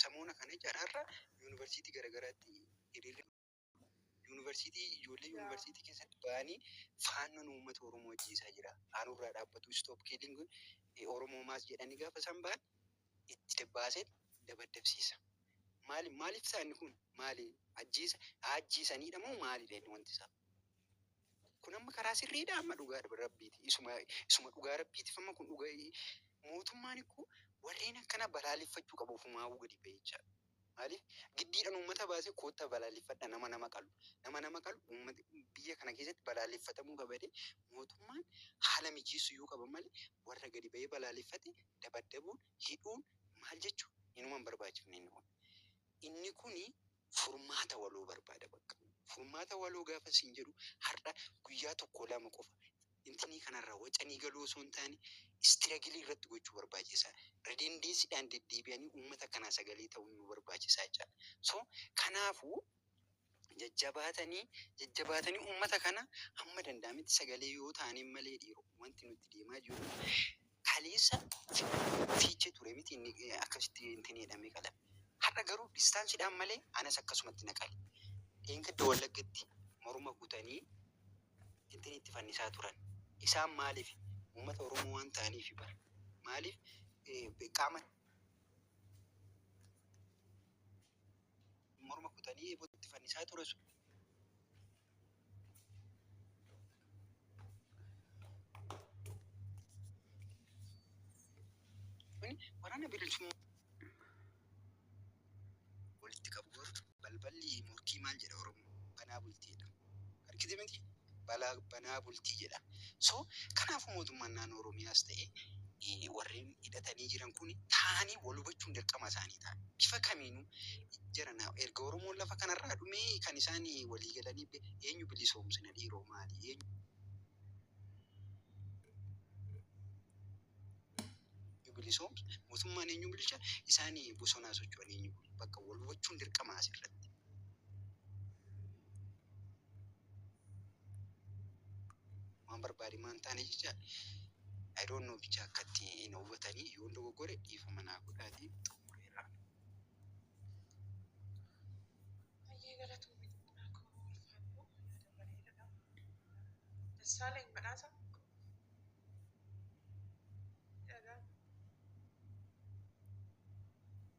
Samoona kana cararra yuunivarsiitii garagaraatti hiriirri yuunivarsiitii ijoollee yuunivarsiitii keessatti ba'anii faannoon uummata Oromoo ajjeesaa jira. Aanurraa dhaabbatu stop killing Oromoo mass jedhanii gaafa isaan ba'an itti dabbaasee dabaddabsiisa. Maali maaliif isaa inni kun maali ajjeesa haa ajjeesaniidha moo maalidha inni wanti isaa? Kun amma karaa sirriidha amma dhugaa rabbiiti. Isuma isuma dhugaa rabbiitiif amma kun dhuga mootummaan koo warreen akkana balaaleffachuu qaba ofumaafuu gadi ba'ee jechaadha. Maaliif giddiidhaan uummata baasee koottaa balaaleffadha nama nama qalu nama nama qalu uummati biyya kana keessatti balaaleffatamuu qaba jedhee mootummaan haala mijeessuyyuu qaba malee warra gadi ba'ee balaaleffate dabaddabuun hidhuun maal jechuun inuma hin barbaachifne inni kun. Inni kuni furmaata waloo barbaada bakka. Furmaata waloo gaafan siin jedhu har'a guyyaa tokko lama qofa intinii kanarraa wacanii galuu osoo hin taane istiragilii irratti gochuu barbaachisaa. Redeendeesiidhaan deddeebi'anii uummata kanaa sagalee ta'uun nu barbaachisaa jechaadha. So kanaafuu jajjabaatanii jajjabaatanii uummata kana hamma danda'ametti sagalee yoo taaneen malee dhiiroo wanti nutti deemaa jiru kaleessa fiichee ture miti inni akkasitti intinii jedhamee qalame. Har'a garuu distaansiidhaan malee anas akkasumatti na qale. Dheengadda Wallaggatti morma kutanii intinii itti fannisaa turan. Isaan maaliif uummata Oromoo waan ta'aniif bara maaliif qaama morma kutanii eebootti fannisaa ture sun. Kun waraana bilisummaa walitti qabu balballi morkii maal jedha Oromoo banaa bultiidha. Argite miti balaa banaa bultii jedha. So kanaafu mootummaan naannoo Oromiyaas ta'ee warreen hidhatanii jiran kuni taa'anii wal hubachuun dirqama isaanii ta'a. Bifa kamiinuu jara na erga Oromoon lafa kanarraa dhumee kan isaan walii galanii be eenyu bilisoomsina dhiiroo maali eenyu. Ni bilisoomsa. Mootummaan eenyuun bulcha? Isaan bosonaa socho'an eenyu bulchu? Bakka wal hubachuun dirqama asirratti. Waan barbaade maan taane jecha I don't know bicha akkatti hin hubatanii yoon dogoggore dhiifama naa godhaatii xumureera. Baay'ee galatoomi xumuraa koo ulfaadhu yaada bareedaadha. Dassaalany badhaasa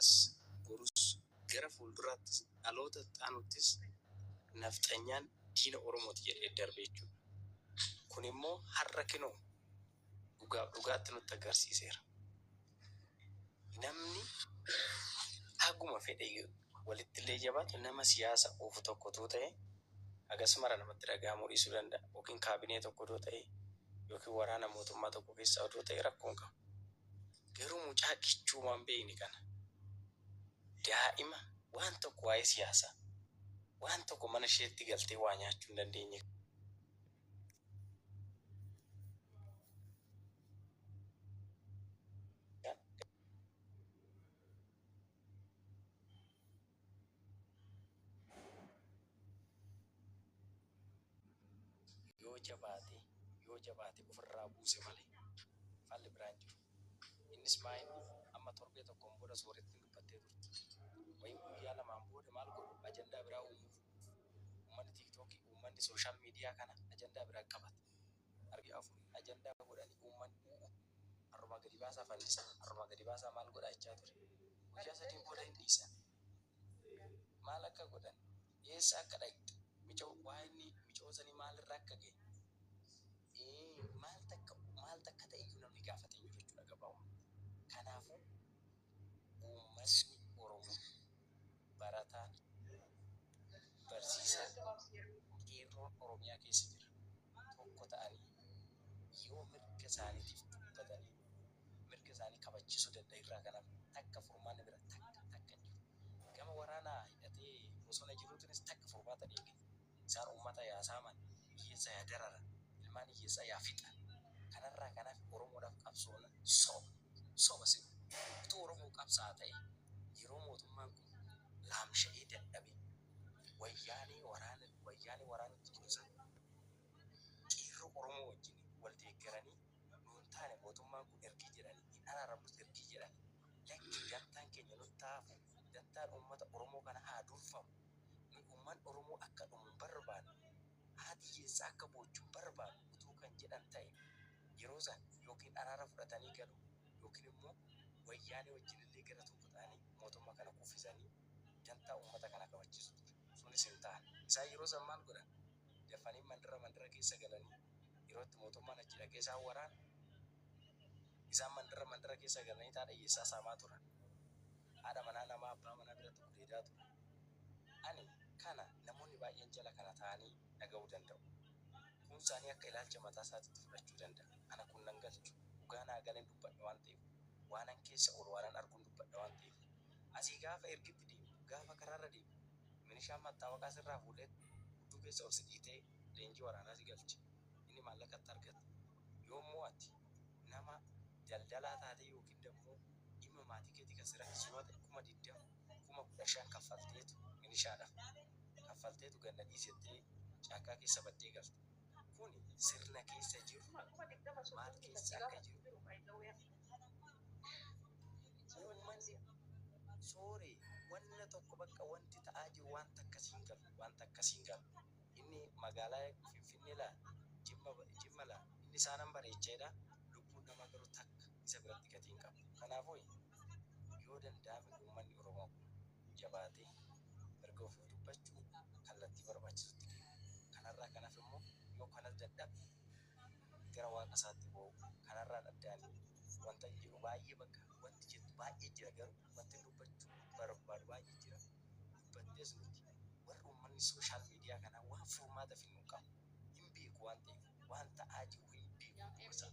as gorus gara fuulduraattis dhaloota itti aanuttis nafxanyaan diina Oromooti jedhee darbe jechuudha. Kunimmoo har'a kinoo dhugaaf dhugaatti nutti agarsiiseera. Namni haguma fedhe walittillee jabaatu nama siyaasa oofu tokko utuu ta'ee hagas mara namatti dhaga'amuu dhiisuu danda'a. Yookiin kaabinee tokko odoo ta'ee yookiin waraana mootummaa tokko keessaa odoo ta'ee rakkoo hin qabu. Garuu mucaa kichuu waan beekne kana daa'ima waan tokko waa'ee siyaasaa waan tokko mana isheetti galtee waa nyaachuu hin dandeenye kana. yoo jabaate yoo jabaate ofirraa buuse malee falli biraan jiru innis maa inni amma torbee tokkoon booda soorettiin dubbattee turte wayii guyyaa lamaan booda maal godhu ajandaa biraa uumuuf Ummanni TikTok ummanni social media kana ajandaa biraa qabat. Arbi afur ajandaa godhani umman u'u arrumaa gadi baasaa fannisa arrumaa gadi baasaa maal godhaa ichaa ture. Guyyaa sadii booda hin dhiisan. Maal akka godhan eessa akka dhaqxe micoo waa inni micoo sanii maal irra akka ga'e ee maal takka maal takka ta'e iyyuu namni gaafate iyyuu jechuudha gabaabaa. Kanaafuu uummatni Oromoo barataan, barsiisaan, qeerroon Oromiyaa keessa jiran tokko ta'anii yoo mirga isaaniitiif dubbatanii mirga isaanii kabachiisuu danda'an irraa kan hafe takka furmaanni biraa takka takka hin jiru. Gama waraanaa hidhatee bosona jiruutiinis takka furmaata hin eeggatu. Isaan ummata yaa saaman, hiyyeessa yaa dararan, ilmaan hiyyeessaa yaa fixan. Kanarraa kan hafe Oromoodhaaf qabsoona? Soba! Soba si kun! Utuu Oromoo qabsaa'a ta'ee yeroo mootummaan kun laamsha'ee dadhabe Wayyaanee waraana Wayyaanee waraanutti ture san Qeerroo Oromoo wajjin wal deeggaranii nuun taane mootummaan kun ergii jedhanii hin araaramnus ergii jedhanii lakkii dantaan keenya nutti haa hafu dantaan ummata Oromoo kanaa haa durfamu Nuyi umman Oromoo akka dhumu hin barbaannu, haati hiyyeessaa akka boochu hin barbaannu utuu kan jedhan ta'e yeroo sana ykn araara fudhatanii galu ykn immoo Wayyaanee wajjin illee gara tokko ta'anii mootumma kana kuffisanii dantaa ummata kanaa kabachiisu ture. Sunis hin taane. Isaan yeroo san maal godhan? Dafanii mandara mandara keessa galanii yeroo itti mootummaan achi dhaqee isaan waraanu isaan mandara mandara keessa galanii taa dhayyeessaa saamaa turan. Haadha manaa namaa abbaa manaa biratti gudeedaa ture. Ani kana namoonni baay'een jala kana taa'anii dhaga'uu danda'u. Kuun isaanii akka ilaalcha mataa isaatiitti fudhachuu danda'a. Ana kun nan galchu. Dhugaa naa galeen dubbadha waan ta'eef, waanan keessa oolu waanan arguun dubbadha waan ta'eef. Asii gaafa ergitti deemtu, gaafa karaarra deemtu, milishaan mattaawaqaa sirraa fuudhee hudduu keessa ol si dhiitee leenjii waraanaa si galche. Inni maallaqa itti argata. Yoommoo ati nama. daldalaa taatee yookiin dammoo dhimma maatii keetii kan si rakkisu yoo ta'e kuma digdama, kuma kudha shan kaffalteetu milishaadhaf kaffalteetu gad na dhiisi jettee caakkaa keessa battee galta. Kuni sirna keessa jiru maal keessa akka jiru uummanni sooree wanna tokko bakka wanti ta'aa jiru wanta akkasii hin galu wanta akkasii hin galu. inni magaalaa Finfinnee laa? Jimma, Jimma laa? Inni isaan an bareecha jedha, lubbuun namaa garuu takka isa biratti gatii hin qabdu. Kanaafuu, yoo danda'ame uummanni Oromoo kun jabaatee mirga ofii dubbachuu kallattii barbaachisutti deemuu, kanarraa kan hafe immoo yoo kanas dadhabe gara waaqa isaatti boo'uu, kanarraan adda ani wantan jedhu baay'ee bakka wanti jettu baay'ee jira garuu wantin dubbachuu barbaadu baay'ee jira. Nuti baddees nuti warri uummanni social media kanaa waan furmaata finnu qabu hin beeku waan ta'eef waan ta'aa jiru hin beeku dhuma isaa.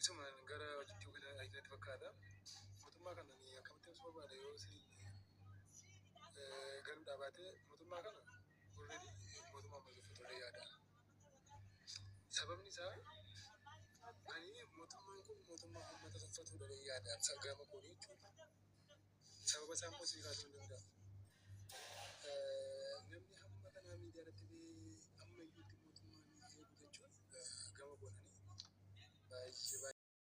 Isumaan gara hojiitti yookiin ayidiyaatti fakkaata. Mootummaa kana ani akkamitti ibsuu barbaada yoo isin garuu dhaabaatee mootummaa kana already mootummaa amma jirtu turee yaada. Sababni isaa ani mootummaan kun mootummaa uummata tuffatudha jedhee yaada. Sabgama koonii jechuudha. Sababa isaa immoo sii kaasuu hin danda'u. Namni hamma kanaa miidiyaa irratti ba'ee amma iyyuutti mootummaan eegu jechuun gama goonanii baay'ee baay'ee.